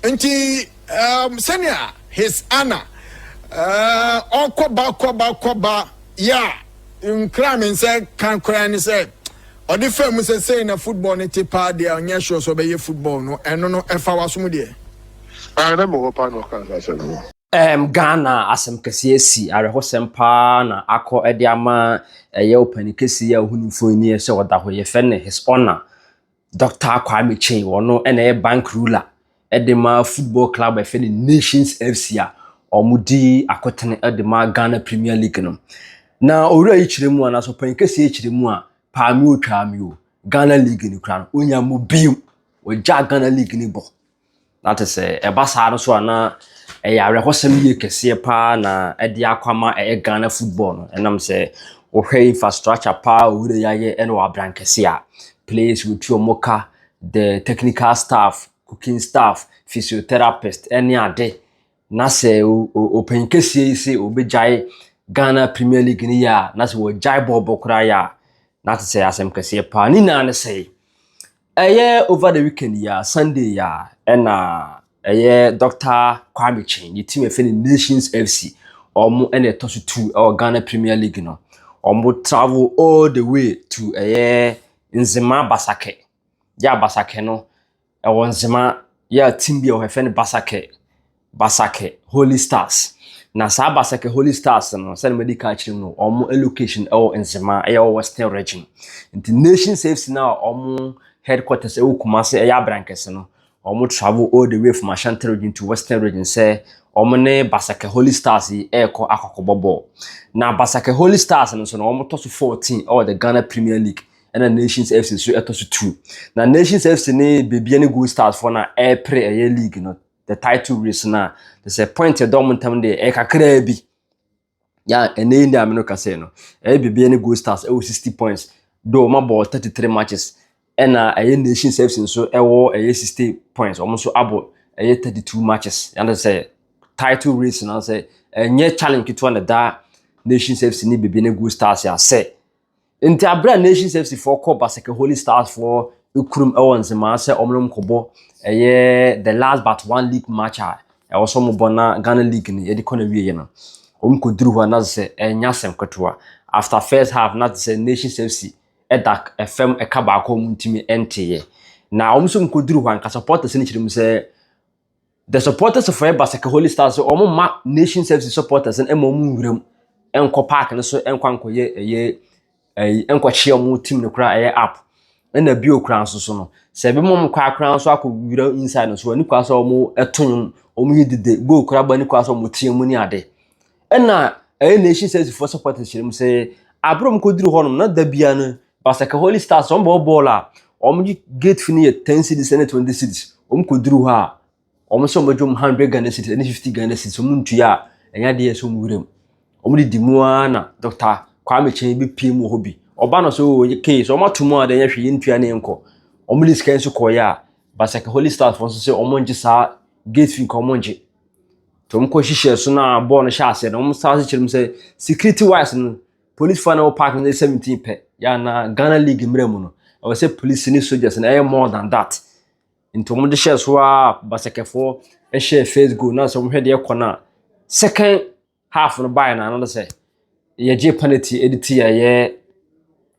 nti um, sɛnea his ana uh, ɔkɔba kɔba kɔba yɛ a nkra me nsɛ ka koraa ne sɛ ɔde faa mu sɛ sɛi na football no te paa deɛ ɔnyɛ sure sɛ ɔbɛyɛ football no ɛno no ɛfa wasom deɛ ah, na mewɔ paa na ɔka saa sɛ no Um, Ghana asɛm kɛseɛ si awerɛhosɛm paa na akɔ de ama ɛyɛ ɔpani kɛseɛ a ɔhuni mfonini sɛ ɔda hɔ yɛfɛ ne His Honor Doctor Kwame Kyei, ɔno na ɛyɛ bank ruler de ma football club a ɛfɛ no Nations FC a wɔdi akotene de ma Ghana Premier League no. Na owura yi kyerɛ mu anaasɛ ɔpanyin kɛseɛ yi kyerɛ mu a, paa mi o, twaa mi o, Ghana League no kura no, onya mu bio, wɔgyaa Ghana League no bɔ. Na te sɛ ɛba saa no so a na ɛyɛ awerɛhɔsɛm yie kɛseɛ paa na ɛde akɔ ama ɛyɛ Ghana football no. Ɛnam sɛ wohwɛ infrastructure paa a Owura yi ayɛ ɛna wɔ abrankɛse a, players wotu wɔn ka, the technical staff, cooking staff, physiotherapist ɛne ade. Na sɛ ɔpanyin kɛseɛ yi sɛ ɔbɛgyae Ghana Premier League no yɛ a, na sɛ wɔgyae bɔɔlbɔ koraa yɛ a, na te sɛ asɛm kɛseɛ paa. Ne nyinaa ne sɛ, ɛyɛ over the weekend yi a, Sunday yi a, ɛna ɛyɛ Dr. Kwame Kyɛn, ne team ɛfɛ ne Nations FC, wɔn ɛna ɛtɔ so tu ɛwɔ Ghana Premier League no. Wɔn travel all the way to ɛyɛ Nzema Basake. Yɛ a Basake no, Ɛwɔ nzema yɛ a team bi wɔ hɔ yɛfrɛ no Basakɛ Basakɛ Holy Stars. Na saa Basakɛ Holy Stars no sɛdeɛ madi kan akyerɛ mu no wɔn location ɛwɔ nzema ɛyɛ wɔ Western Region. Nti Nations FC no a wɔn headquarters ɛwɔ Kumasi ɛyɛ Abrankɛse no wɔn travel all the way from Ashanti Region to Western Region sɛ wɔn ne Basakɛ Holy Stars yi ɛrekɔ akɔkɔbɔ bɔɔl. Na Basakɛ Holy Stars no nso no wɔn tɔ so 14 ɛwɔ the Ghana Premier League ɛna nations fc nso ɛtɔ so two na nations fc ne bebia ne gold stars fo na ɛrepere ɛyɛ league no the title race na te sɛ point ɛdɔ wɔn ntam deɛ ɛyɛ kakraa bi ya ɛnna yi nneɛma no kasa yi no ɛyɛ bebia ne gold stars ɛwɔ sixty points do wɔn abɔ thirty three matches ɛna ɛyɛ nations fc nso ɛwɔ ɛyɛ sixty points wɔn nso abɔ ɛyɛ thirty two matches yɛn te sɛ title race na sɛ ɛnyɛ challenge ketewa na da nations fc ne bebia ne gold stars yɛ asɛ. Ntsi aber a Nations FC foɔ kɔɔ Baseke Holy Stars foɔ ekurom wɔ Nzemaa sɛ wɔn nom kɔbɔ ɛyɛ the last but one league match a ɛwɔ sɛ wɔn bɔ na Ghana league no yɛde kɔ na wie yɛ no, wɔn kɔ duru hɔ a na sɛ ɛnyɛ asɛm ketewa. After first half na sɛ Nations FC ɛda ɛfam ɛka baako a wɔn ntumi ɛnteeɛ. Na wɔn nso wɔn kɔ duru hɔ a nka supporters no kyerɛ mu sɛ The supporters of Eba Seke Holy Stars sɛ wɔn mma Nations FC supporters no ma wɔn nwura mu nkɔ park no so nkɔ ankɔyɛ ɛyɛ ɛyi nkɔkye wɔn team no koraa ɛyɛ app ɛna bio koraa nso so no sɛ ebi mu kɔ akora nso akɔ nwura inside no so ani kora sɛ wɔn ɛto nwom wɔn yi dede goal kora ba ani kora sɛ wɔn tie mu ne ade Ɛna ɛyɛ nation service fo supporters kyerɛ mu sɛ abere mu kɔduru hɔ nom na da bia no basaka holy stars wɔn bɔ bɔɔl a wɔn gye gate fi no yɛ ten cities ne twenty cities wɔn kɔduru hɔ a wɔn sɛ wɔn bɛgye wɔn hundred ghana cities ne fifty ghana cities wɔn ntua a ɛnyɛ adeɛ ɛsɛ wɔn wuram wɔn de di mu ara na dɔkta kwame kyɛn bi pie mu wɔ hɔ bi ɔba no so wɔyɛ kee so wɔn ato mu a deɛ yɛhwɛ yɛn ntua ne nkɔ wɔn de sika nso kɔɔyɛ a basaka holy stars fo nso sɛ wɔn gye saa gate fi nka wɔn gye Nti wɔkɔ hyehyɛɛ so na bɔɔl no hyɛɛ aseɛ no wɔn san kyerɛ mu sɛ security wise no polisifoɔ na wɔ park no sɛ seventeen pɛ yɛ na Ghana league mmerɛ mu no ɛwɔ sɛ polisi ne soldiers na ɛyɛ more than that nti wɔn de hyɛɛ so a basakɛfoɔ ɛhyɛɛ first goal na sɛ wɔn hwɛ deɛ kɔ no a second half no baeɛ no ano no sɛ yɛgye penalty ɛde ti yɛyɛ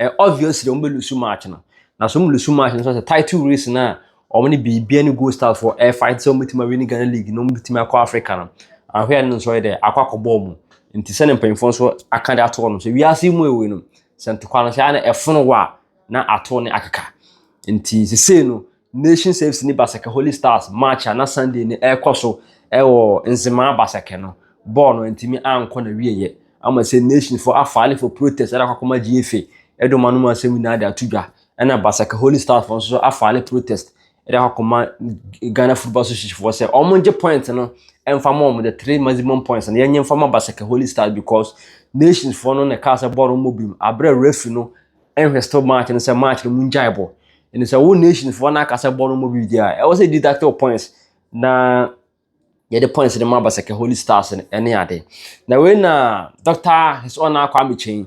Ɛyɛ obvious dɛ wɔn bɛ lusu match no. Na so wɔn lusu match no nso sɛ title race no a wɔn ne Bibia ne Gold Stars foɔ ɛrefight sɛ wɔn bɛtumi awini Ghana league na wɔn bɛtumi akɔ Africa no. Ahwɛ no nso ɔyɛ dɛ akɔ akɔbɔ wɔn. Nti sɛ ne mpanyinfoɔ nso aka de ato wɔn sɛ wiase mu ɛwɔ yi no sɛ ntokwa no sɛ ana ɛfono wɔ a na ato ne akeka. Nti sesei no Nations FC ne Baseke Holy Stars match a na Sunday no ɛrekɔ so wɔ Nzemaa Baseke no, bɔɔl no antumi ankɔ na wieɛ ama sɛ Nations fo afaale for protest ɛde akɔ akɔma GFA ɛde wɔn anom asɛm nyinaa de ato dwa ɛna Baseke Holy Stars fo nso afaale protest ɛde akɔ akɔma Ghana Football Association foɔ sɛ wɔn gye point no ɛmfa ma wɔn the three maximum points no yɛnyɛ mfa ma Baseke Holy Stars because Nations foɔ no na ɛkaa sɛ bɔɔl no mmɔ biom aberɛ referee no ɛnhwɛ still match no sɛ match no mu ngyae bɔ ɛne sɛ wo nation foɔ no aka sɛ bɔ no mu bi di a ɛwɔ sɛ deduct wo points na yɛde points no ma basɛkɛ holy stars no ɛne ade na wei na dr his honor akɔ amekyɛn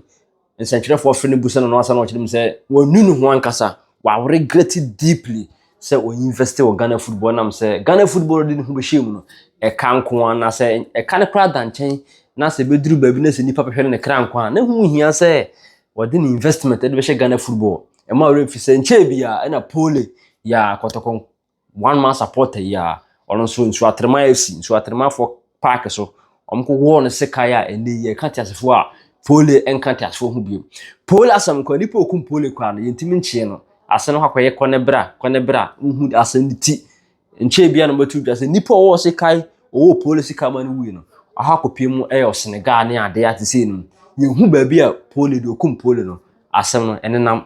nsɛntwerɛfoɔ fere no bu sɛ no no asa na ɔkyerɛ mu sɛ wɔnu ne ho ankasa wɔregret deeply sɛ ɔinvest wɔ ghana football nam sɛ ghana football de ne ho bɛhyɛ mu no ɛka nko a na sɛ ɛka no koraa da nkyɛn na sɛ bɛduru baabi na sɛ nnipa bɛhwɛ no ne kra nko a na ho hia sɛ Wɔde ne investment de bɛhyɛ Ghana football mma ɔwerɛ mfi sɛ nkyɛɛ biara ɛna Pole yɛ a Kɔtɔkɔ one man supporter yi a ɔno nso Nsuo Atrema FC, Nsuo Atremafoɔ park so wɔn ko wɔɔ no sekan a ɛnɛ yi ɛka teasefoɔ a Pole ɛnka teasefoɔ ho biom. Pole asɛm nko a nipa a ɔkum Pole koraa no yɛntumi nkyee no ase no hɔ akɔyɛ kɔ ne bra kɔ ne bra wohu asɛm no ti Nkyɛ ebia na mobɛto dwa sɛ nnipa a wɔwɔ sekan wɔwɔ polisi kama no wui no, aha kɔpie mu ɛyɛ ɔsenegaa ne adeɛ ate sei no. Yɛhu baabi a poli deɛ ɔkum poli no asɛm no ɛnenam.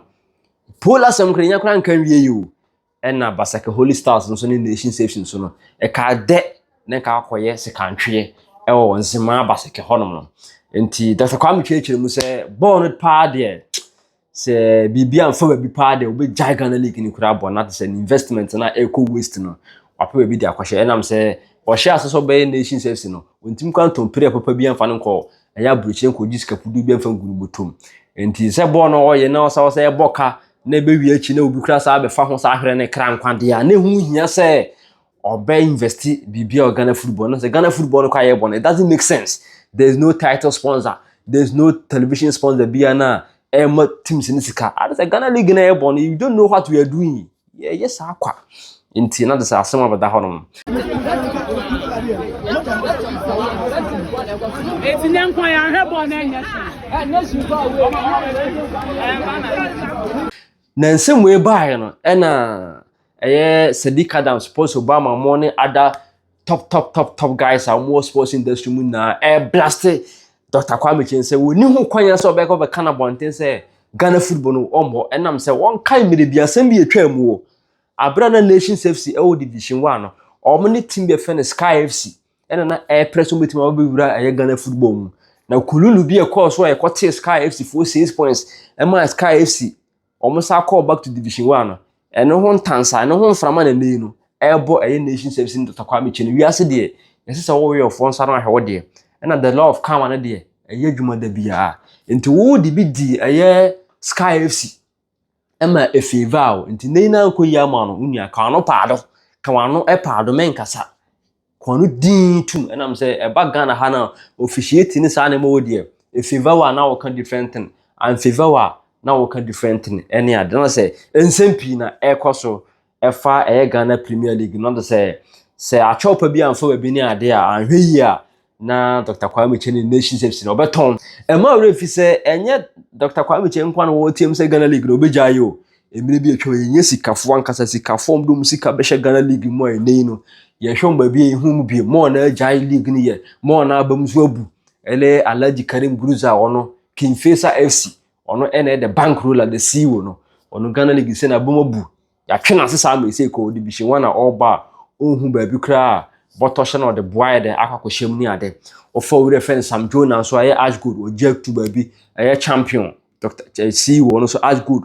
Poli asɛm kora yɛnya kora nka nwie yi o. Ɛna Basake Holy Stars nso ne Nation Safes nso no, ɛka dɛ na nka akɔyɛ sekantweɛ ɛwɔ Nzemaa Basake hɔnom no. Nti Dɔkta Kwame kyerɛkyerɛ mu sɛ bɔɔl no paa deɛ Sɛ biribi amfa baabi paa deɛ wobɛgyae Ghana League no kura bɔ na te sɛ ne investment no a ɛrekɔ waste no wapɛ baabi de akɔhyɛ ɛnam sɛ ɔhyɛ ase sɛ ɔbɛyɛ Nations FC no ɔntumi kora ntɔn pere papa bi amfa no nkɔ ɛyɛ aburokyire nkɔgye sika pudu bi amfa ngu no bɔtom nti sɛ bɔɔl no ɔyɛ na ɔsa ɔsɛ ɛbɔ ka na ɛbɛwie akyi na obi kora saa bɛfa ho saa hwerɛ ne kra nkwadeɛ a na ɛho hia sɛ ɔbɛ invest biribi a Ghana football no sɛ Ghana football no kɔ ayɛ bɔ no it doesn't make sense there is no title sponsor there is no television sponsor bia no a ɛma teams no sika ade sɛ Ghana league no yɛ bɔ no you don't know what we are doing yɛyɛ saa kwa nti na de sɛ asɛm abɛda hɔ nom Eti ne nkwa ya hwɛ bɔ na enye shi. Enye shi ba we. Na nsɛm wei baeɛ no ɛna Ɛyɛ Sadiq Adam, Sports Obama, mo ne ada top top top top guys a wɔwɔ sports industry mu nyinaa ɛblaste Dr. Kwame Kyeng sɛ wɔni ho kwan sɛ ɔbɛkɔ bɛka no abɔnten sɛ Ghana football no ɔmmɔ ɛnam sɛ wɔnkae mmerɛ bi asɛm bi ɛtwaa mu o aberɛ na Nations FC ɛwɔ Division 1 no wɔn ne team bi ɛfɛ no Sky FC ɛna na ɛreprɛ sɛ wɔbɛtumi abɛwura ɛyɛ Ghana football mu na kululu bi ɛkɔɔ so a ɛkɔtee Sky FC foɔ 6 points ɛmaa Sky FC wɔn san kɔɔ back to division one no ɛno ho ntansa ɛno ho mframa na ɛnɛyi no ɛrebɔ ɛyɛ nation service no dɔtɔ kwame kyɛ no wiase deɛ yɛsɛ sɛ wɔwɔ yɛfoɔ nsa no ahwɛ wɔ deɛ ɛna the law of karma no deɛ ɛyɛ adwuma da biara nti wo de bi di ɛyɛ sky fc ɛma efeeva o nti nɛyi na nkɔ yi ama no wo nua ka wano paado ka wano ɛpaado mɛnkasa kɔn no dinn tum ɛnam sɛ ɛba Ghana ha na officiate ne saa nneɛma wɔ deɛ efever wa na wɔka different thing anfever wa na wɔka different thing ɛne ade na sɛ nsɛm pii na ɛkɔ so ɛfa ɛyɛ Ghana Premier League no de sɛ sɛ akyɛw pa bi anfa baabi ne ade a anhwɛ yie a na Dr. Kwame Kyɛ ne Nations FC na ɔbɛtɔn ɛma ɔwerɛ fi sɛ ɛnyɛ Dr. Kwame Kyɛ nkwa na wɔteam sɛ Ghana League na ɔbɛgyae o Mmerɛ bi atwam yɛ nyɛ sikafoɔ ankasa sikafoɔ ɔmo de ɔmo sika bɛhyɛ Ghana league mu a ɛnɛ yi no yɛ hwɛ ɔmo baabi a yɛ hu ɔmo bio mɔɔ na agyae league no yɛ mɔɔ na aba mu so abu ɛne Alhaji Karim Guruza ɔno King Faisal FC ɔno ɛna ɛde bank roller de sii wɔ no ɔno Ghana league sɛ na aba mu abu yɛatwe no ase saa ma ɛsɛ kɔ division one a ɔreba a ɔnhu baabi koraa a bɔtɔ hyɛ na ɔde boa yɛ dɛ akɔ akɔhyɛm ne ade ɔfa wura fɛn Sam Jonah nso ayɛ ash gold ɔgye ato baabi ɛyɛ champion Doctor Chelsea wɔ no nso Ashgood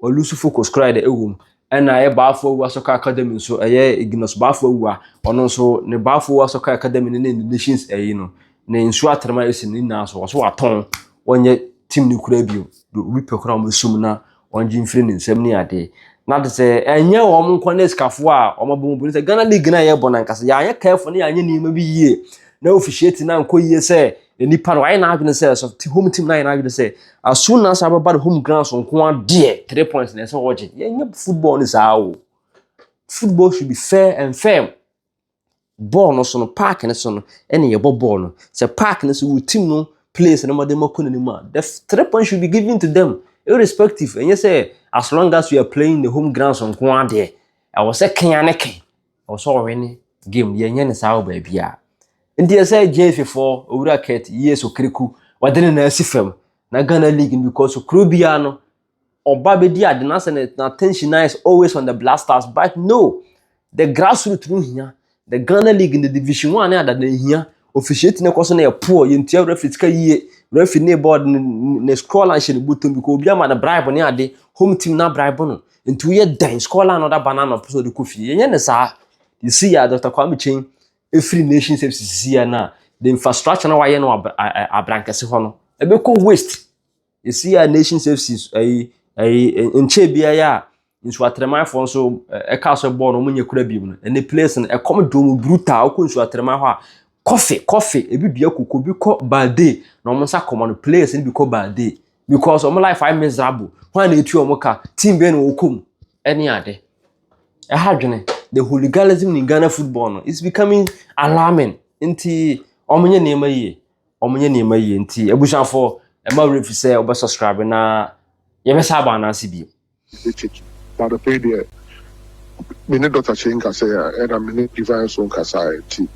wɔlusu focus koraa de ɛwɔ mu ɛna ɛyɛ baafo awua soccer academy nso ɛyɛ Ignos baafo awua ɔno nso ne baafo awua soccer academy ne ne nations ɛyi no ne nsuo atrɛma esi ne nyinaa so wɔso watɔn wɔnyɛ team ne kura bio do obi pɛ koraa wɔn esum na wɔn gye mfiri ne nsam ne adeɛ na de sɛ ɛnyɛ wɔn nkɔ ne sikafoɔ a wɔn abɔ mu bu ne sɛ Ghana league na yɛ bɔ na nkasa yɛanyɛ careful ne yɛanyɛ nneɛma bi yie na officiate na nkɔ yie sɛ Na nipa no ayɛ n'adwene sɛ so te home team no ayɛ n'adwene sɛ as soon as abɛba ne home grounds nko adeɛ three points na ɛsɛ ɔgye yɛnyɛ football ne saa o football should be fair and firm bɔɔl no so no park no so no ɛna yɛbɔ bɔɔl no sɛ park no so wo team no place no mɔden mɔkɔ n'anim a the three points should be given to them irrespective ɛnyɛ sɛ as long as you are playing the home grounds nko adeɛ ɛwɔ sɛ kenya ne kenya Ɔwɔ sɛ ɔwe ne game deɛ ɛnyɛ ne saa wɔ baabi a. Nti ɛsɛ JFA foɔ owura Kurt yie so kiriku wɔde ne nan asi fam na Ghana league no because kuro biara no ɔba bɛdi ade na sɛ na attention na is always on the black stars but no the grassroots no hia the Ghana league the division one ne adada hia Ofihyia ti no kɔ so na yɛ poor, yɛ ntua referee sika yie, referee ne board no ne score line hyɛ ne bɔtɔ mu because obi ama no bribe ne ade, home team na bribe no, nti woyɛ dɛn score line na ɔda ba no anɔpa sɛ ɔde kɔ fie, yɛnyɛ ne saa, you see a Dr Kwame Kyeng ɛfiri nation services sisi a na the infrastructure na wayɛ no wɔ abrankɛse hɔ no ɛbɛkɔ waste. Ɛsii a Nations FC ayi ayi nkyɛn biara yi a nsuatɛrɛmanfoɔ nso ɛka so bɔɔl no wɔn nyɛ kura bio no ɛne players no ɛkɔm de wɔn brutal wokɔ nsuatɛrɛman hɔ a kɔfe kɔfe ebi dua koko bi kɔ baade na wɔn nsa kɔma no players no bi kɔ baade because wɔn life ayɛ miserable wɔn a na etu wɔn ka team bɛn na wɔkɔ mu ɛne ade ɛha dwene the hooliganism in Ghana football no is becoming alarming nti wɔn nyɛ nneɛma yie. wɔnyɛ nneɛma yie nti abusuafoɔ ɛma werɛ fi sɛ wɔbɛ subscribe na yɛbɛsa aba anaase bio. baada pɛi deɛ me ne dɔta kye nkasa a ɛna me ne divine so nkasa a nti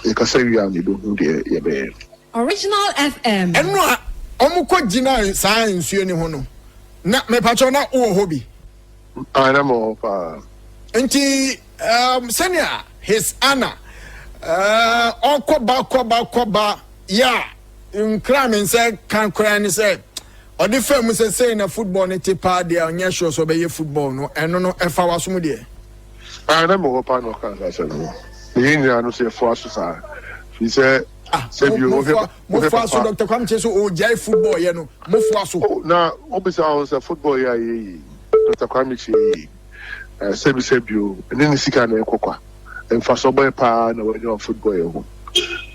yɛkasa wie a mebɛhu deɛ yɛbɛyɛ. Original FM. ɛno a wɔn kɔ gyinae saa nsuo ni ho no na mepatwɛ na wowɔ hɔ bi. Ah, na mewɔ hɔ paa. Nti Um, sɛnea his ana uh, ɔkɔba kɔba kɔba yɛ a nkra me nsɛ ka koraa ne sɛ ɔde fa mu sɛ sei na football no te paa deɛ ɔnyɛ sure sɛ ɔbɛyɛ football no ɛno no ɛfa wasom deɛ ah, na mewɔ pa na ɔka saa sɛm no meyɛ nyinaa no sɛ ɛfoa so saa firi sɛ ah, sɛ bio mofoa so dr kwamkye so ɔgyae football yɛ no mofoa so oh, na wobisa ho sɛ football yɛ a yɛyi dr kwamkye yɛyi Sɛbisɛbi o, ɛnyɛ ne sika na ɛkɔ kwa. Mfasoɔ bɛn pa ara na wanya wɔ football yɛ ho?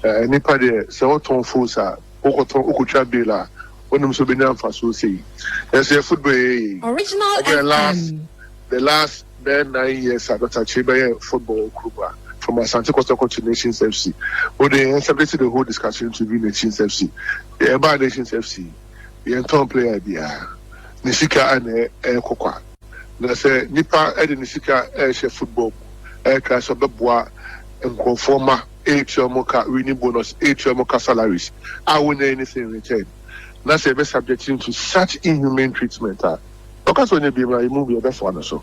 Nnipa deɛ, sɛ wɔtɔn phones a, wokɔtɔn, wokɔtwa bill a, wonim sɛ wobɛnya mfasoɔ sei. Nanso yɛ football yɛyɛ yei, wobɛyɛ last, the last bɛyɛ nine years a Doctor Kyei bɛyɛ football wɔ kurom ha, from Asante Kotoko to Nations FC. Wo deɛ yɛn subject the whole discussion to be Nations FC. Deɛ ɛbaa Nations FC yi, yɛntɔn player biara. Ne sika na ɛkɔ kwa. Na sɛ nipa de ne sika rehyɛ football mu ɛkra sɛ ɔbɛboa nkorɔfoɔ ma ɛretua wɔn ka winning bonus, ɛretua wɔn ka salaries a wɔnnya anything in return, na sɛ yɛbɛ subject no to such inhumane treatment a, ɔka sɛ ɔnyɛ binom a, yɛn mu biara bɛfoa no so.